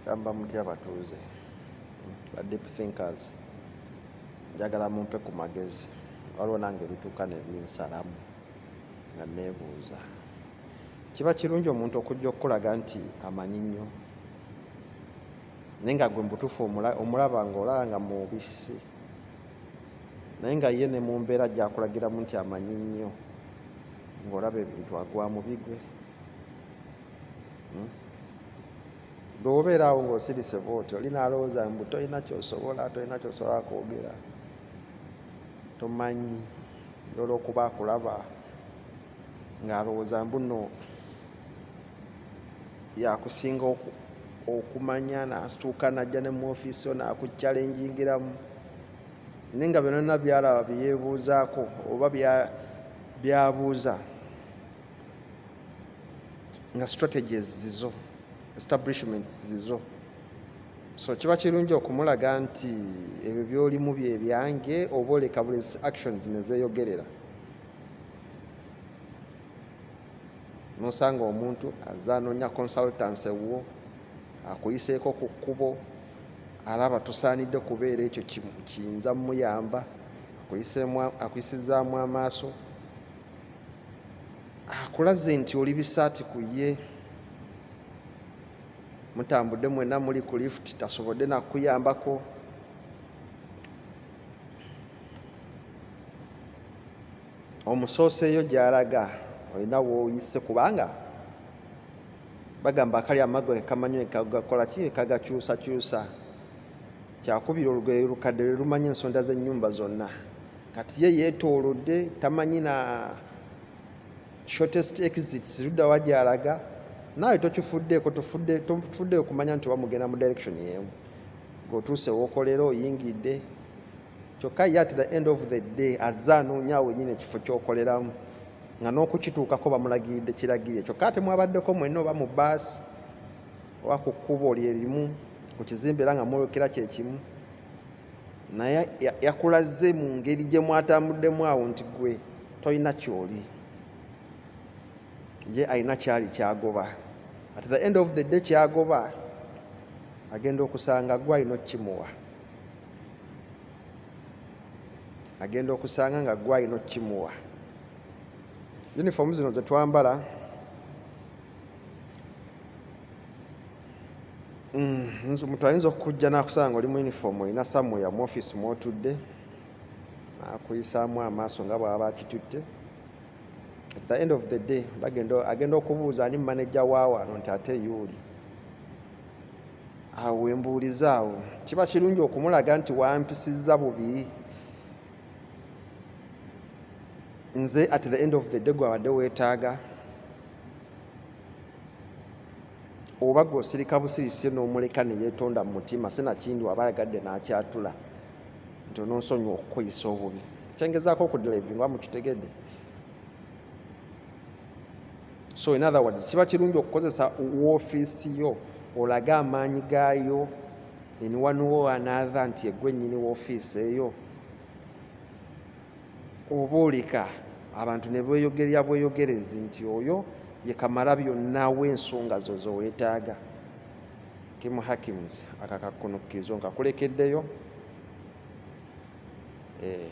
gamba mutya batuuze ba deep thinkers njagala mumpe ku magezi waliwo nange ebituuka nebinsalamu nga nebuuza kiba kirungi omuntu okujja okukulaga nti amanyi nnyo naye nga gwe mubutuufu omulaba nga olaba nga mubisi naye nga ye ne mu mbeera gyakulagiramu nti amanyi nnyo ng'olaba ebintu agwa mu bigwe hmm? gwe wobeera awo ng'osirise bwoti oli naalowooza mbu tolina kyosobola tolina kyosobola kwogera tomanyi olwokuba akulaba ng'alowooza mbuno yakusinga okumanya nasituuka najja ne mu ofiisi yo nakukyalenjingiramu naye nga byonana byalaba byeyebuuzaako oba byabuuza nga strategies zizo establishments zizo so kiba kirungi okumulaga nti ebyo byolimu byebyange oba oleka buli actions nezeyogerera nosanga omuntu aze anoonya consultancy wuwo akuyiseeko ku kkubo alaba tusaanidde kubeera ekyo kiyinza mumuyamba akuyisizaamu amaaso akulaze nti oli bisaati ku ye mutambudde mwena muli ku lift tasobodde nakuyambako omusooseeyo gy'alaga olina wooyise kubanga bagamba akali amago ekamanyo ekagakola ki ekagakyusakyusa kyakubira olugoye lukadde lwe lumanyi ensonda z'ennyumba zonna kati ye yeetoolodde tamanyi na shortest exits ludda wa gy'alaga naawe tokifuddeeko tofuddeeyo kumanya nti oba mugenda mu direction y'emu ng'otuuse wookolera oyingidde kyokka ye at the end of the day azze anoonya awo wenyini ekifo kyokoleramu nga n'okukituukako bamulagiridde kiragirire kyokka ate mwabaddeko mwenna oba mu baasi oba ku kkubo lyerimu ku kizimbe era nga mwolekera kyekimu naye yakulaze mu ngeri gye mwatambuddemu awo nti gwe tolina kyoli ye alina kyali kyagoba at the end of the day kyagoba agenda okusanga gwe alina okukimuwa agenda okusanga nga gwe alina okukimuwa yunifoomu zino ze twambala mm, omuntu ayinza okukujja nakusanga oli mu yunifoomu olina samuya mu ofiisi mwotudde akuyisaamu amaaso nga bwaba bakitutte at the end of the day agenda okubuuza ani maneja waawano nti ate yuuli awo wembuulizaawo kiba kirungi okumulaga nti wampisizza bubi nze at the end of the day gwabadde weetaaga oba gwe osirika busirisire n'omuleka ne yeetonda mu mutima sinakindi waba ayagadde n'akyatula nti ononsonyiwa okukuyisa obubi kyengezaako okudilevinga mukitegedde so in other words kiba kirungi okukozesa woofiisi yo olage amaanyi gaayo in one wo another nti egwe nyini woofiisi eyo oba oleka abantu ne bweyogerya bweyogerezi nti oyo ye kamala byonna w'ensonga zo zowetaaga kimu hakims akakakunukirizo nkakulekeddeyo eh.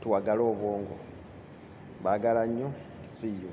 tuwagale obwongo bagala nnyo see you